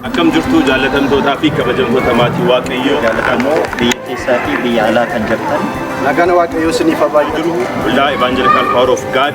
Akkam jirtu jaallatamtootaa fi kabajamtoota maatii Waaqayyoo. Jaallatamoo biyya keessaa fi biyya alaa kan jirtan Nagaan Waaqayyoo isiniif haa baay'atu. Waldaa Evaanjelikaal Paawar of Gaad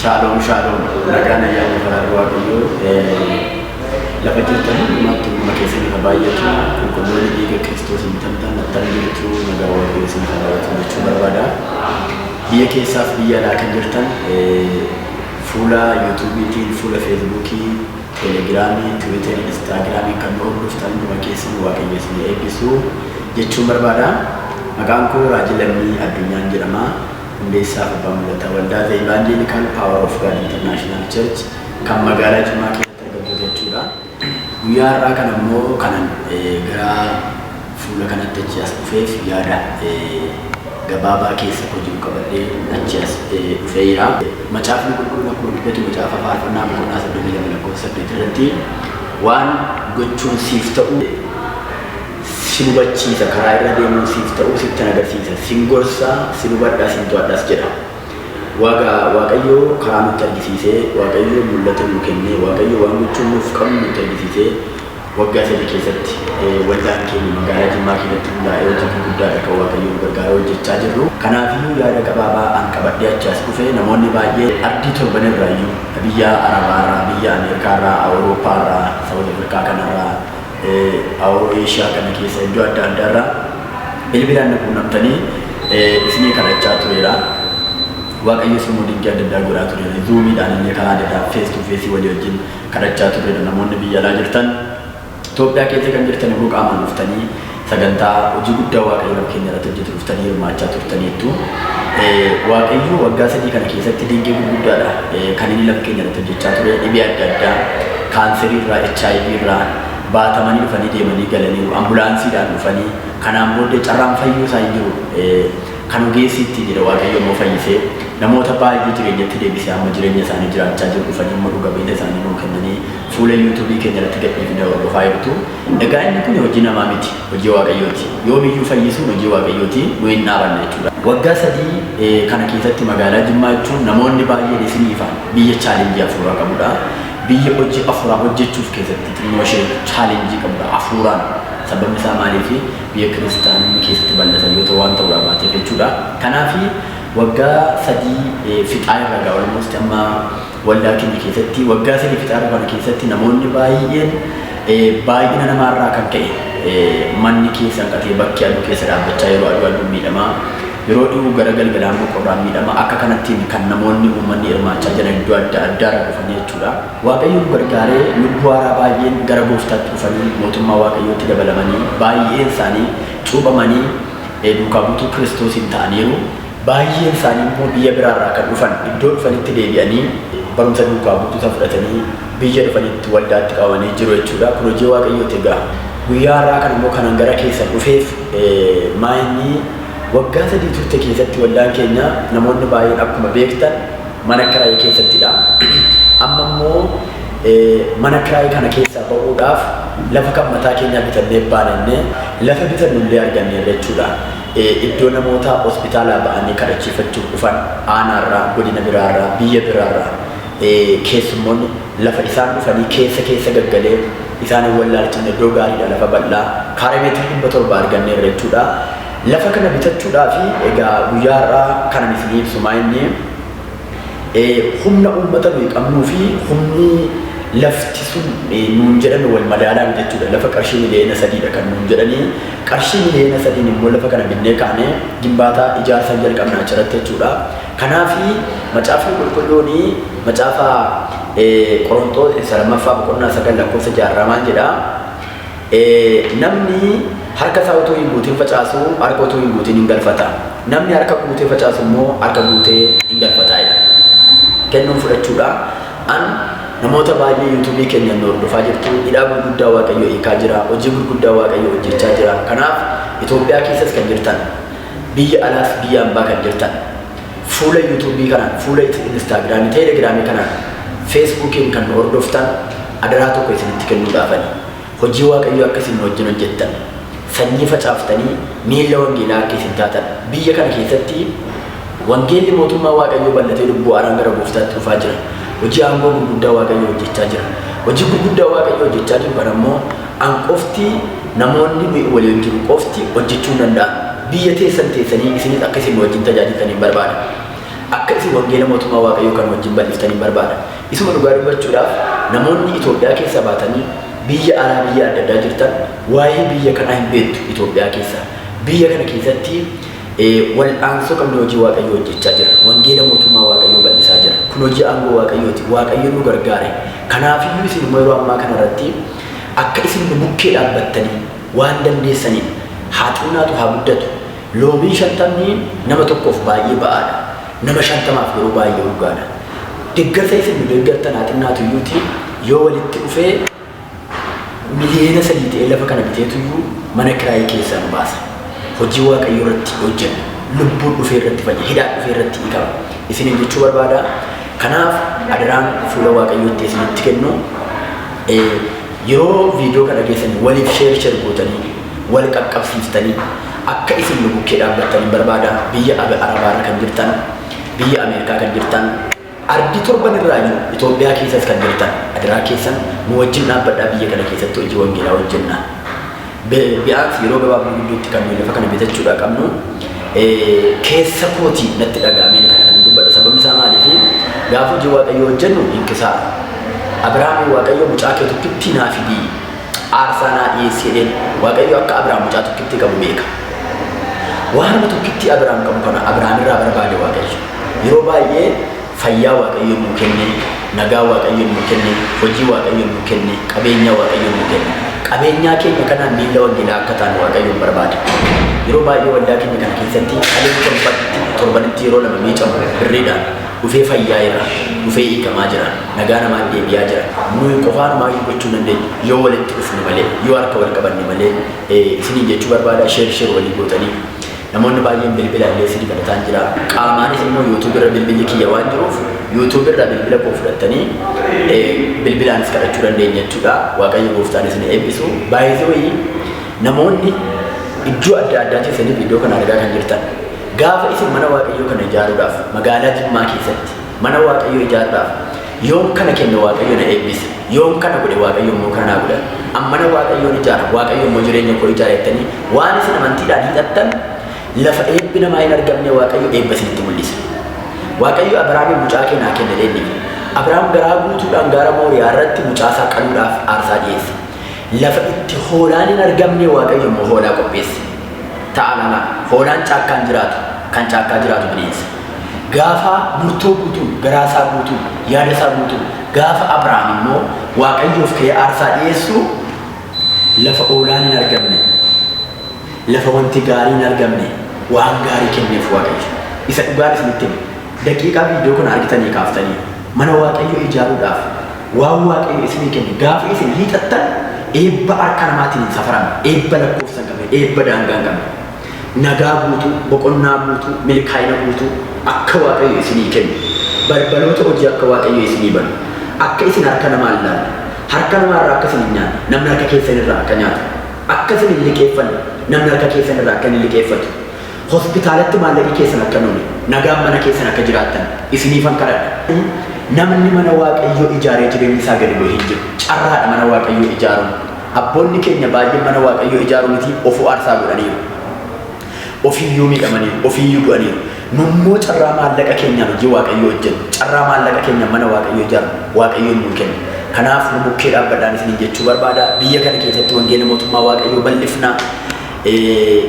Shaaloom shaaloom nagaan ayyaanni faraarri waaqayyoo lafa jirtan hundumaatti hunduma keessan irra baay'atu qulqulloonni dhiiga kiristoosiin bitamtan attam jirtu nagaa waaqayyoo isin irra baay'atu jechuu barbaada. Biyya keessaaf biyya alaa kan jirtan fuula yuutuubiitiin fuula feesbuukii teelegiraamii tiwiiterii instaagiraamii kan nu hordoftan hunduma keessan waaqayyo isin eebbisu jechuun barbaada. Maqaan koo Raajii Lammii Addunyaan jedhama. Hundeessaa fi Abbaa Mul'ata Waldaa The Evangelical Power of God International Church kan magaalaa Jimmaa keessatti argamtu jechuudha. Guyyaa har'aa kana immoo kanan gara fuula kanatti achi as dhufeef yaada gabaabaa keessa koo jiru qabadhee achi as dhufee jira. Macaafni qulqulluun akkuma dubbatu macaafa faarfannaa boqonnaa 32 lakkoofsa 8 irratti waan gochuun siif ta'u sin hubachiisa, karaa irra deemuun siif ta'uu sittan agarsiisa, sin gorsa, sin hubadha, sin to'adhas jedha. Waaga Waaqayyo karaa nutti argisiise, Waaqayyo mul'ata nuu kenne, Waaqayyo waan gochuu nuuf qabnu nutti argisiise, waggaa sadii keessatti waldaan keenya magaalaa Jimmaa keessatti hundaa'ee hojii gurguddaadha kan Waaqayyo nu gargaaree hojjechaa jirru. Kanaafiyyuu yaada gabaabaa an qabadhee achi as dhufe namoonni baay'ee ardii torban irraayyuu, biyya Arabaa irraa, biyya Ameerikaa irraa, Awurooppaa irraa, Sawuz Afirkaa kanarraa, Awuroo Eeshiyaa kana keessa iddoo adda addaa irraa bilbilaan na quunnamtanii isinii kadhachaa tureera. Waaqayyos immoo dinqii adda addaa godhaa tureera. Zuumiidhaan illee karaa adda addaa fees tuu feesii walii wajjin kadhachaa tureera. Namoonni biyya alaa jirtan Itoophiyaa keessa kan jirtan immoo qaamaan dhuftanii Sagantaa hojii guddaa Waaqayyo lafa keenya irratti hojjetu dhuftanii hirmaachaa turtaniittu. Waaqayyo waggaa sadii kana keessatti dinqii gurguddaadha kan inni lafa keenya irratti hojjechaa ture. Dhibee adda addaa kaanserii irraa, HIV irraa baatamanii dhufanii deemanii galaniiru. Ambulaansiidhaan dhufanii kanaan booddee carraan fayyuu isaa hin jiru. Kan ogeessi ittiin jedhe Waaqayyo immoo fayyisee namoota baay'ee jireenyatti deebisee amma jireenya isaanii jiraachaa jiru. Dhufanii immoo dhuga ba'ina isaanii nuu kennanii fuula YouTube keenya irratti gadhiifne hordofaa jirtu. Egaa inni kun hojii namaa miti, hojii Waaqayyooti. Yoomiyyuu fayyisuun hojii Waaqayyooti, nu hin dhaabanne jechuudha. Waggaa sadii kana keessatti magaalaa Jimmaa jechuun namoonni baay'een isinii ifa, biyya chaalenjii hafuuraa qabudha. Biyya hojii hafuuraa hojjechuuf keessatti xinnoo ishee chaalenjii qabudha hafuuraan. Sababni isaa maaliifi? Biyya kiristaanonni keessatti bal'atan yoo ta'u waan ta'uudhaa baateef jechuudha. Kanaafi waggaa sadii fixaa irra egaa almost amma Waldaa keenya keessatti waggaa sadii fixaa dhufan keessatti namoonni baay'een baay'ina namaa irraa kan ka'e manni keessa hanqatee bakki aduu keessa dhaabbachaa yeroo aduu aduun miidhamaa yeroo dhihuu gara galgalaa immoo qorraan miidhama akka kanattiin kan namoonni uummanni hirmaachaa jiran iddoo adda addaa irra dhufanii jechuudha. Waaqayyo nu gargaaree lubbuu haaraa baay'een gara gooftaatti dhufanii mootummaa waaqayyootti dabalamanii baay'een isaanii cuuphamanii duukaa buutuu kiristoosiin ta'aniiru. Baay'een isaanii immoo biyya biraa irraa kan dhufan iddoo dhufanitti deebi'anii barumsa duukaa buutuu san fudhatanii biyya dhufanitti waldaatti qabamanii jiru jechuudha. Kun hojii Waaqayyooti egaa. Guyyaa har'aa kana immoo kanan gara keessan dhufeef maa inni waggaa sadii turte keessatti waldaan keenya namoonni baay'een akkuma beektan mana kiraayii keessattidha. Amma immoo mana kiraayii kana keessaa ba'uudhaaf lafa kan mataa keenyaa bitannee baanannee lafa bitannu illee arganneerra jechuudha. iddoo namoota hospitaalaa ba'anii kadhachiifachuuf dhufan aanaarraa, godina biraarraa, biyya biraarraa keessummoonni lafa isaan dhufanii keessa keessa gaggalee isaan hin wallaalchifne iddoo gaariidha lafa bal'aa kaaree meetirii dhibba torba arganneerra jechuudha. Lafa kana bitachuudhaafi egaa guyyaa har'aa kanan isinii ibsu maa inni humna uummata nuyi qabnuu fi humni lafti sun nuun jedhan wal madaalaa miti jechuudha. Lafa qarshii miliyoona sadiidha kan nuun jedhanii Qarshii miliyoona sadiin immoo lafa kana binnee kaanee gimbaataa ijaarsa hin jalqabne achirratti jechuudha. Kanaaf macaafni qulqulluun macaafa Qoronxoos isa lammaffaa boqonnaa sagal lakkoofsa ja'a irraa maal jedha? Namni harka isaa utuu hin guutin facaasu harka utuu hin guutin hin galfata. Namni harka guutee facaasu immoo harka guutee hin galfata jedha. Kennuun fudhachuudha. An namoota baay'ee youtube keenyan nu hordofaa jirtu hidhaa gurguddaa waaqayyoo hiikaa jira hojii gurguddaa waaqayyoo hojjechaa jira kanaaf Itoophiyaa keessas kan jirtan biyya alaas biyya ambaa kan jirtan fuula youtube kanaan fuula instaagiraamii teelegiraamii kanaan feesbuukiin kan nu hordoftan adaraa tokko isinitti kennuudhaafani Hojii Waaqayyoo akka isin nu wajjin hojjettan, sanyii facaaftanii miilla wangeelaa akka isin taatan, biyya kana keessatti wangeelli mootummaa Waaqayyoo bal'atee lubbuu haaraan gara gooftaatti dhufaa jira. Hojii aangoo gurguddaa Waaqayyoo hojjechaa jira. Hojii gurguddaa Waaqayyoo hojjechaa jiru kana immoo an qofti, namoonni nuyi walii wajjin jirru qofti hojjechuu hin danda'an. Biyya teessan teessanii isinis akka isin nu wajjin tajaajiltan hin barbaada. Akka isin wangeela mootummaa Waaqayyoo kana wajjin bal'iftan hin barbaada. Isuma dhugaa dubbachuudhaaf namoonni Itoophiyaa keessaa baatanii biyya alaa biyya adda addaa jirtan waa'ee biyya kanaa hin beektu Itoophiyaa keessaa. Biyya kana keessatti wal'aansoo qabnee hojii Waaqayyoo hojjechaa jirra. Wangeela mootummaa Waaqayyoo bal'isaa jirra. Kun hojii aangoo Waaqayyooti. Waaqayyo nu gargaare. Kanaafiyyuu isin immoo yeroo ammaa kana irratti akka isin nu bukkee dhaabbattanii waan dandeessaniin haa xinnaatu haa guddatu. Loomiin shantamni nama tokkoof baay'ee ba'aadha. Nama shantamaaf garuu baay'ee urgaadha. Deggarsa isin nu deggartan haa xinnaatuyyuutii yoo walitti dhufee miliyeena sadii ta'ee lafa kana biteetuyyuu mana kiraayii keessaa nu baasa. Hojii Waaqayyoo irratti hojjenna. Lubbuun dhufee irratti fayya. Hidhaan dhufee irratti hiikama. Isiniin jechuu barbaada. Kanaaf adaraan fuula Waaqayyootti isinitti kennu. Yeroo video kana geessani waliif share share gootani wal qaqqabsiiftani akka isin nu bukkee dhaabbattan barbaada biyya arabaarra kan jirtan biyya America kan jirtan ardi torban irraa jiru Ethiopia keessas kan jirtan adaraa keessan nu wajjin dhaabbadhaa biyya kana keessatti hojii wangeelaa hojjenna. Bi'aansi yeroo gabaabduu gidduutti kan nuyi lafa kana bitachuudhaa qabnu keessa kooti natti dhaga'ameen kana kan dubbadha. Sababni isaa maaliifi? Gaafa hojii Waaqayyoo hojjennu hin kisaara. Abiraamiin Waaqayyo mucaa kee tokkittii naa fidii aarsaa naa dhiyeessi jedheen. Waaqayyo akka Abiraam mucaa tokkittii qabu beeka. Waanuma tokkittii Abiraam qabu kana Abiraamirraa barbaade Waaqayyo. Yeroo baay'ee Fayyaa Waaqayyo nuu kenne, nagaa Waaqayyo nuu kenne, hojii Waaqayyo nuu kenne, qabeenyaa Waaqayyo nuu kenne. Qabeenyaa keenya kanaan miilla wangeelaa akka taanu Waaqayyoon barbaada. Yeroo baay'ee waldaa keenya kana keessatti dhaleen torbatti, torbanitti yeroo lama miicamu birriidhaan dhufee fayyaa'eera, dhufee hiikamaa jira, nagaa namaan deebi'aa jira. Nuyi qofaanumaayyuu gochuu hin dandeenyu yoo walitti dhufne malee, yoo harka wal qabanne malee isiniin jechuu barbaada, share share walii gootanii. Namoonni baay'een bilbila illee si dabalataan jira. Qaamaanis immoo YouTube irra bilbilli kiyya waan jiruuf YouTube irra bilbila koo fudhattanii eh, bilbilaanis kadhachuu dandeenya jechuudha. Waaqayyo gooftaan isin eebbisu. Baay'ee namoonni iddoo adda addaa keessaniif iddoo kana argaa kan jirtan gaafa isin mana waaqayyoo kana ijaaruudhaaf magaalaa Jimmaa keessatti mana waaqayyoo ijaaruudhaaf Yoon kana kenne Waaqayyo na eebbisa, yoon kana godhe Waaqayyo immoo kana naa godha, an mana Waaqayyoon ijaara, Waaqayyo immoo jireenya koo ijaara jettanii waan isin amantiidhaan hiixattan lafa eebbi namaa hin argamne Waaqayyo eebba isinitti mul'isa. Waaqayyo Abrahaamiin mucaa kee naa kenni jedhee inni Abrahaam garaa guutuudhaan gaara Mooriyaa irratti mucaa isaa qaluudhaaf aarsaa dhiyeesse. Lafa itti hoolaan hin argamne Waaqayyo immoo hoolaa qopheesse. Ta'aa ilaalaa, hoolaan caakkaa hin jiraatu, kan caakkaa jiraatu bineensa. Gaafaa murtoo guutuun, garaa isaa guutuun, yaada isaa guutuun, gaafa Abrahaam immoo Waaqayyoof ka'ee aarsaa dhi'eessu, lafa oolaan hin argamne, lafa wanti gaarii hin argamne, waan gaarii kenneef Waaqayyo. Isa dhugaan isinitti hima. Daqiiqaa viidiyoo kana argitanii kaaftanii mana Waaqayyoo ijaaruudhaaf waan Waaqayyo isinii kenne gaafa isin hiixattan eebba harka namaatiin hin safaramne, eebba lakkoofsa hin qabne, eebba daangaa hin qabne. Nagaa guutuu, boqonnaa guutuu, milkaa'ina guutuu akka Waaqayyo isinii kennu, balbaloota hojii akka Waaqayyo isinii banu, akka isin harka namaa hin laalle, harka namaa irraa akka isin hin nyaanne, namni harka keessan irraa akka nyaatu, akka isin hin liqeeffanne, namni harka keessan irraa akka inni liqeeffatu, hospitaalatti maallaqi keessan akka hin oole, nagaan mana keessan akka jiraattan isiniifan kadhadha. Namni mana Waaqayyoo ijaaree jireenyi isaa gadi bu'e hin jiru. Carraadha mana Waaqayyoo ijaaruun. Abboonni keenya baay'een mana Waaqayyoo ijaaruu miti ofuu aarsaa godhaniiru. Ofiiyyuu miidhamaniiru, ofiiyyuu du'aniiru. Nu immoo carraa maallaqa keenyaan hojii Waaqayyoo hojjennu, carraa maallaqa keenyaan mana Waaqayyoo ijaarru Waaqayyoon nuu kenne. Kanaaf nu bukkee dhaabbadhaan isiniin jechuu barbaada. Biyya kana keessatti wangeela mootummaa Waaqayyoo bal'ifna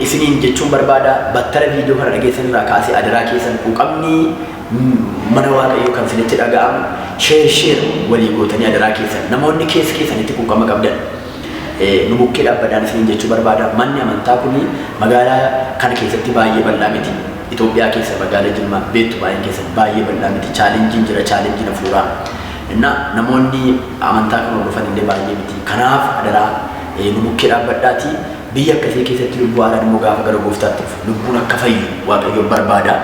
isiniin jechuun barbaada. Battala viidiyoo kana dhageessan irraa kaasee adaraa keessan quuqamni Mana waaqayyoo kan sinitti dhaga'amu share share walii gootanii adaraa keessan namoonni keessa keessanitti quuqama qabdan nu bukkee dhaabbadaan isiniin jechuu barbaada manni amantaa kuni magaalaa kana keessatti baay'ee bal'aa miti Itoophiyaa keessa magaala Jimmaa beektu baay'een keessan baay'ee bal'aa miti chaalenjiin jira chaalenjiin hafuuraa innaa namoonni amantaa kan hordofan illee baay'ee miti kanaaf adaraa nu bukkee dhaabbadhaatii biyya akkasii keessatti lubbuu haaraan immoo gaafa gara gooftaatti dhufu lubbuun akka fayyu waaqayyoon barbaada.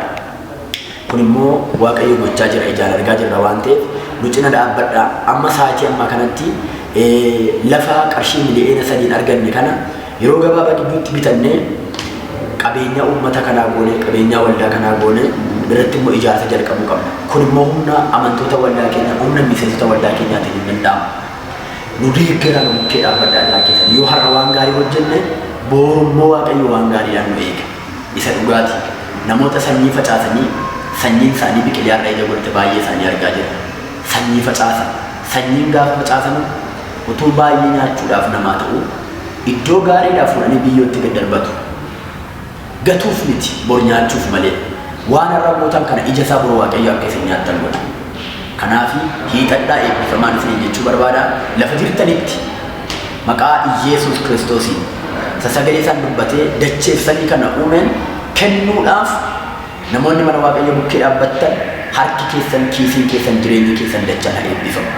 Kun immoo Waaqayyo gochaa jira ijaan argaa jirra waan ta'eef nu cina dhaabbadha. Amma sa'aatii ammaa kanatti lafa qarshii miliyoona sadiin arganne kana yeroo gabaabaa gidduutti bitannee qabeenyaa uummata kanaa goonee qabeenyaa waldaa kanaa goonee irratti immoo ijaarsa jalqabuu qabna. Kun immoo humna amantoota waldaa keenya humna miseensota waldaa keenyaatiin hin danda'amu. Nu deeggaraa nu bukkee dhaabbadha irraa keessan yoo har'a waan gaarii hojjenne booru immoo Waaqayyo waan gaariidhaan nu eega. isa dhugaa ti. Namoota sanyii facaasanii sanyiin isaanii biqilee har'a ija godhate baay'ee isaanii argaa jirra. Sanyii facaasan. Sanyiin gaafa facaasamu utuu baay'ee nyaachuudhaaf namaa ta'uu iddoo gaariidhaa fuudhanii biyyootti gad darbatu. Gatuuf miti, bor nyaachuuf malee. Waan har'a gootan kana ija isaa bor Waaqayyo akka isin nyaattan godha. Kanaafi, hiixadhaa eebbifamaan isiniin jechuu barbaada. Lafa jirtanitti. Maqaa Iyyeesuus Kiristoosiin, isa sagalee isaan dubbatee dacheef samii kana uumeen kennuudhaaf namoonni mana Waaqayyoo bukkee dhaabbattan harki keessan, kiisiin keessan, jireenyi keessan dachaan haa eebbifamu.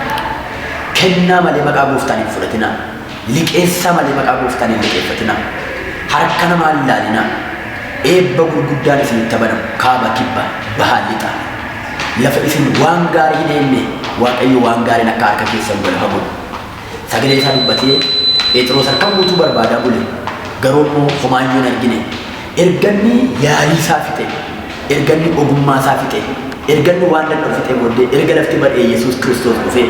Kennaa malee maqaa Gooftaan hin fudhatinaa. Liqeessaa malee maqaa Gooftaan hin liqeeffatinaa. Harka namaa hin ilaalinaa. Eebba gurguddaan isinitti haa banamu. Kaaba, kibba, baha, lixa. Lafa isin waan gaarii hin eegne Waaqayyo waan gaariin akka harka keessan galu haa godhu. Sagalee isaa dubbatee Pheexiroos harkaan guutuu barbaadaa bule, garuu immoo homaa iyyuu hin argine. Erga inni yaalii isaa fixe, erga inni ogummaa isaa fixe, erga inni waan danda'u fixee booddee erga lafti bari'ee Yesuus Kiristoos dhufee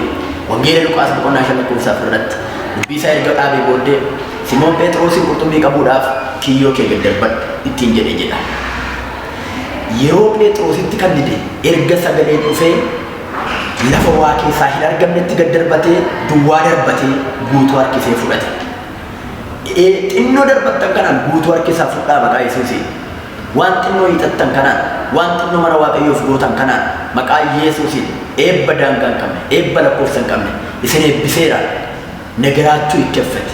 Wangeela Luqaas boqonnaa 5 lakkoofsa 4 irratti dubbii isaa erga dhaabee booddee Simoon Pheexiroosiin qurxummii qabuudhaaf kiyyoo kee gad darbadhu ittiin jedhe jedha. Yeroo Pheexiroositti kan dide erga sagaleen dhufee Lafa waa keessaa hin argamnetti gad darbatee duwwaa darbatee guutuu harkisee fudhate. Ee xinnoo darbattan kanaan guutuu harkisaa fudhaa maqaa Yesuusiin. Waan xinnoo hiixattan kanaan, waan xinnoo mana Waaqayyoof gootan kanaan maqaa Yesuusiin eebba daangaa hin qabne, eebba lakkoofsa hin qabne isin eebbiseera. Negeraachuu ikkeffeti.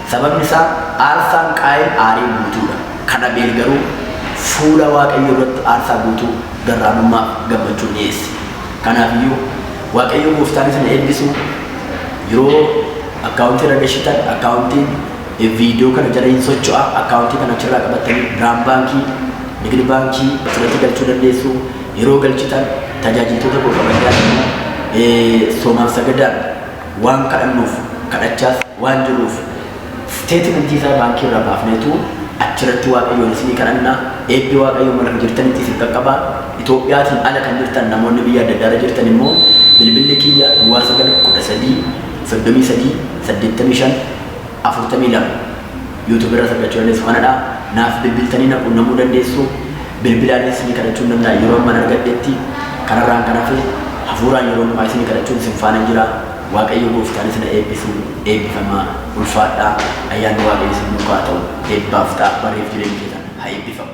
Sababni isaa aarsaan Qaayin aarii guutuu dha, kan Abeel garuu fuula Waaqayyoo duratti aarsaa guutuu garraamummaa fi gammachuun dhi'eesse. Kanaaf iyyuu, Waaqayyo gooftaan isin haa eebbisu, yeroo Account irra gashitan Account video kana jala in socho'a, Account kana achi irraa qabattanii Biraam Baankii, Nigid Baankii asirratti galchuu dandeessu, yeroo galchitan tajaajiltoota koo kabajaa fi Soomaaf Sagadaan, Waan kadhannuuf, kadhachaas waan jirruuf, Steetimentii isaa baankii irraa baafneetu achirratti Waaqayyoon isinii kadhanna. Eebbi Waaqayyoo bakka jirtanitti isin qaqqaba. Itoophiyaatiin ala kan jirtan namoonni biyya adda addaarra jirtan immoo bilbilli kiyya duwwaa 9 13 33 85 42 YouTube irras argachuu dandeessu kanadha. Naaf bilbiltanii na quunnamuu dandeessu. Bilbilaan isinii kadhachuun danda'a yeroo amman argadhetti. Kanarraan kan hafe hafuuraan yeroo hundumaa isinii kadhachuun isin faana jira. Waaqayyo gooftaan isin haa eebbisu. Eebbifamaa. Ulfaadhaa. Ayyaanni Waaqayyo isin duukaa haa ta'u. Eebbaaf ta'a. Barriif jireenyi keessan haa eebbifamu.